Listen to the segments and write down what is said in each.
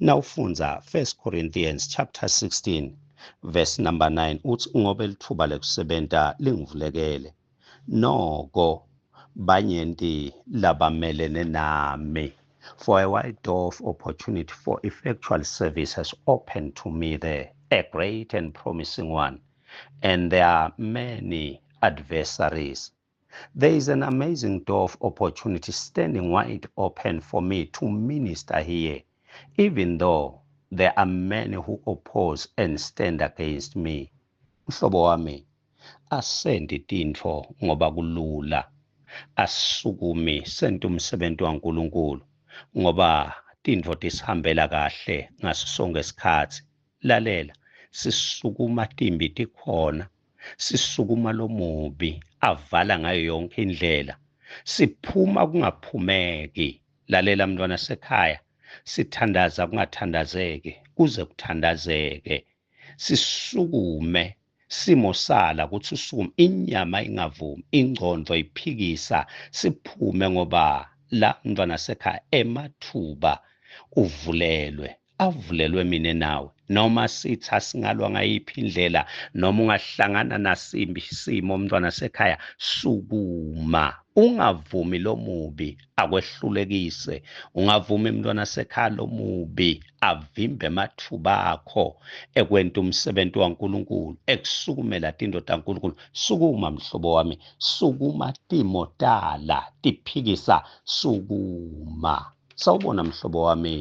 nawufunza 1 Corinthians chapter 16 verse number 9 uthi ngoba elithuba lekusebenta lingivulekele noko banyenti labamelene nami for a wide door of opportunity for effectual service has opened to me there a great and promising one and there are many adversaries There is an amazing door of opportunity standing wide open for me to minister here, even though there are many who oppose and stand against me. Mhlobo wami, asendi tintfo ngoba kulula. Asisukumi sente umsebenzi waNkulunkulu ngoba tintfo tisihambela kahle ngaso sonkhe sikhatsi. Lalela, sisukuma timbi tikhona sisukuma lomubi avala ngayo yonke indlela siphuma kungaphumeki lalela mntwana sekhaya sithandaza kungathandazeki kuze kuthandazeke sisukume simo sala ukuthi usukume inyama ingavumi ingcondo iphikisa siphume ngoba la mntwana sekhaya emathuba uvulelwe avulelwe mina nawe noma sithi asingalwa ngayiphi indlela noma ungahlangana nasimbi isimo umntwana sekhaya sukuma ungavumi lomubi akwehlulekise ungavumi mntwana sekhaya lomubi avimbe amathuba akho ekwenta umsebenzi waNkulunkulu ekusukumela tindoda kaNkulunkulu sukuma mhlobo wami sukuma timotala tiphikisa sukuma sawubona mhlobo wami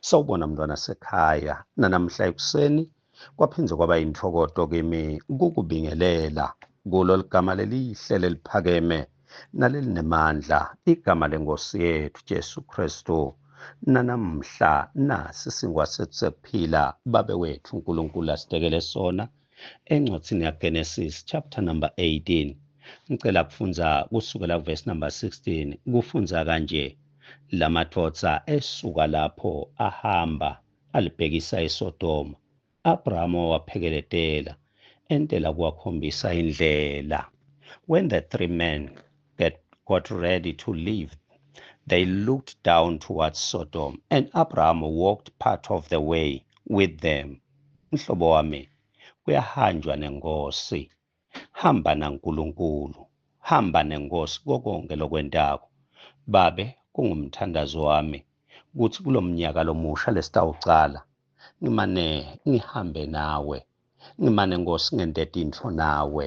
Sawubona mntwana sekhaya, nanamhla ekuseni kwaphinde kwaba yintokoto kimi kukubingelela kulo ligama lelihle leliphakeme nalelinemandla igama lenkosi yethu Jesu Kristu nanamhla nasi singwa sethu sekuphila babe wethu uNkulunkulu asidekele sona Encwadini yaGenesis chapter number 18 ngicela kufunza kusukela kuverse number 16 kufunza kanje lamathosa esuka lapho ahamba alibhekisa eSodoma Abrahama waphekeletela entela kuwakhombisa indlela when the three men that got ready to leave they looked down towards Sodom and Abraham walked part of the way with them Mhlobo wami, kuyahanjwa nenkosi. Hamba naNkulunkulu, hamba nenkosi kokonke lokwentako. Babe, kungumthandazo wami ukuthi kulo mnyaka lomusha lesitawucala ngimane ngihambe nawe, ngimane Nkosi ngente tintfo nawe.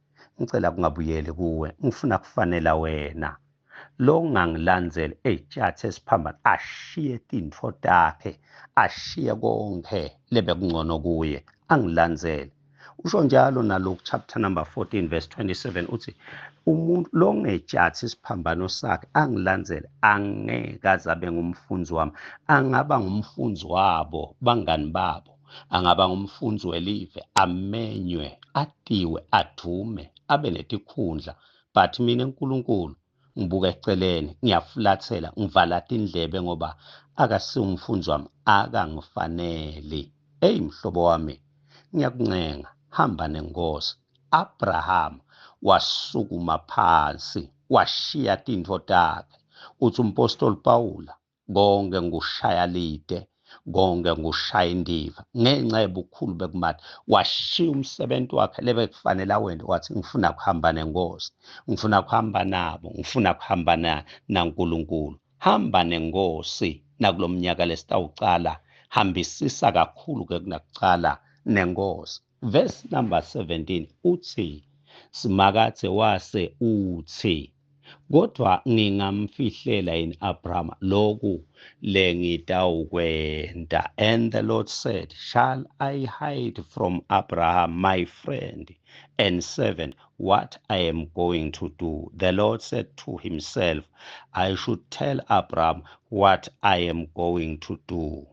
ngicela kungabuyeli kuwe ngifuna kufanela wena lo ngangilandzeli ey'tshathi esiphambana ashiye tintfo takhe ashiye konkhe lebekungcono kuye angilandzele usho njalo naloku chapter number 14 verse 27 uthi umuntu lo ngetshathi isiphambano sakhe angilandzele angeke azabe ngumfunzi wami angaba ngumfunzi wabo bangani babo angaba ngumfundzi welive amenywe atiwe adume abe netikhundla but mina nkulunkulu ngibuka eceleni ngiyafulathela ngivala tindlebe ngoba akasiwumfundzi wami akangifaneli eyi mhlobo wami ngiyakuncenga hamba nenkosi abraham wasukuma phansi washiya tintfo takhe uthi umpostoli pawula konke ngushaya lide konke ngushaya indiva ngenxa yobukhulu bekumali washiya umsebenzi wakhe lebekufanele awende wathi ngifuna kuhamba nenkosi ngifuna kuhamba nabo ngifuna kuhamba nankulunkulu hamba nenkosi nakulo mnyaka lesitawucala hambisisa kakhulu-ke kunakucala nenkosi Verse number 17 uthi Simakathe wase uthi kodwa ngingamfihlela yini Abraham lokhu lengitawukwenta and the Lord said shall I hide from Abraham my friend and servant what I am going to do the Lord said to himself I should tell Abraham what I am going to do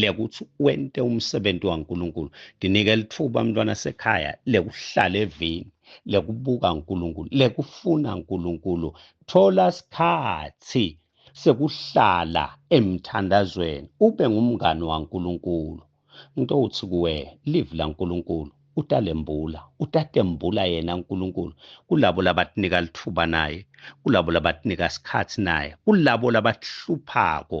lekuthi wente umsebenzi waNkulunkulu ndinike lithuba mntwana sekhaya lekuhlala evini lekubuka uNkulunkulu lekufuna uNkulunkulu thola sikhathi sekuhlala emthandazweni ube ngumngani waNkulunkulu into uthi kuwe live laNkulunkulu utalembula utatembula yena uNkulunkulu kulabo labatinika lithuba naye kulabo labatinika sikhathi naye kulabo labahluphako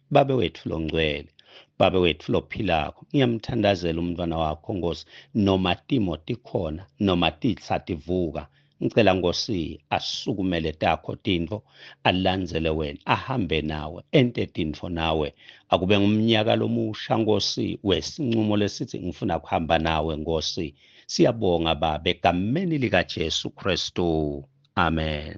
Babe wethu longcwele Baba wethu lophilako ngiyamthandazela umntwana wakho Nkosi noma timo tikhona noma titsa tivuka ngicela Nkosi asukumele takho tintfo alandzele wena ahambe nawe ente tintfo nawe akube ngumnyaka lomusha Nkosi wesincumo lesithi ngifuna kuhamba nawe Nkosi siyabonga Baba egameni likaJesu Kristu amen